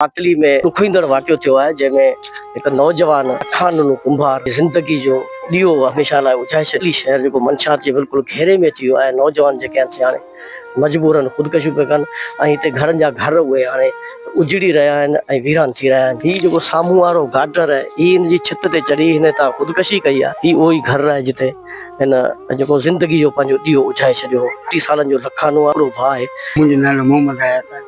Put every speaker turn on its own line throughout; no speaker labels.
ماتلي ۾ ڏکوئيندڙ واقعو ٿيو آهي جنهن ۾ هڪ نوجوان اکانونو ڪنڀار زندگي جو ڏيئو هميشه لاء اجهائي ڇڏيو. ماتلي شهر جيڪو منشيات جي بلڪل گهيري ۾ اچي ويو آهي نوجوان جيڪي آهن سي هاڻي مجبورن خودڪشيون پيا ڪن ۽ هتي گهرن جا گهر اهي هاڻي اجڙي رهيا آهن ۽ ويران ٿي رهيا آهن. هي جيڪو سامهون وارو گارڊنر آهي هي هن جي ڇت تي چڙهي هن هتان خودڪشي ڪئي آهي هي اهو ئي گهر آهي جتي هن جيڪو زندگي جو پنهنجو ڏيئو اجهائي ڇڏيو هو. ٽي سالن جو لکانو آهي هڪڙو ڀاء آهي. منهنجو نالو محمد
حيات آهي.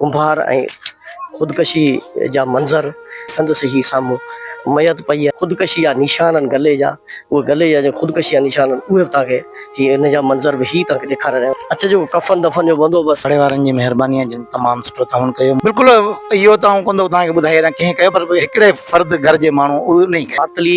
ڪنڀار ۽ خودڪشي جا منظر سندس هي سامهون ميت پئي آهي خودڪشي جا نشان آهن گلي جا اهي گلي جا جيڪي خودڪشي جا نشان آهن اهي به توهان کي هي ان جا منظر به هي توهان کي ڏيکاري رهيا آهيون اچ جو ڪفن دفن جو بندوبست پاڙي وارن جي مهرباني
آهي جن تمام سٺو تعاون ڪيو. بلڪل اهو ته آئون ڪونه ٿو توهان کي ٻڌائي وڃان ڪنهن ڪيو پر هڪڙي فرد گهر جي ماڻهو اهو انهي ڪيو. ماتلي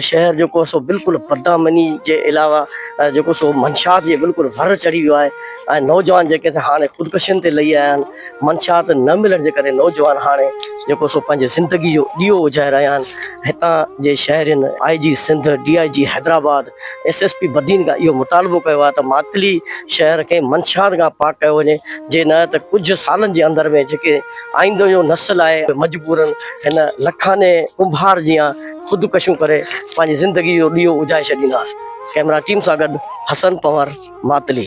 شهر جيڪو سو بلڪل بدامني جي علاوه جيڪو سو منشات جي بلڪل ور چڙهي ويو آهي. ۽ نوجوان جيڪي ته هاڻي خودڪشين تي لهي آيا آهن، منشيات نه ملڻ جي ڪري نوجوان هاڻي جيڪو سو پنهنجي زندگي جو ڏيئو اجهائي رهيا آهن، هتان جي شهرين، I G Sindh, D I G Hyderabad, S S P Badin کان اهو مطالبو ڪيو آهي ته ماتلي شهر کي منشيات کان پاڪ ڪيو وڃي، جي نه ته ڪجهه سالن جي اندر ۾ جيڪي آئيندو جو نسل آهي مجبورن هن لکاني ڪنڀار جيان خودڪشيون ڪري پنهنجي زندگي جو ڏيئو اجهائي ڇڏيندا. ڪئميرا ٽيم سان گڏ حسن پنور، ماتلي.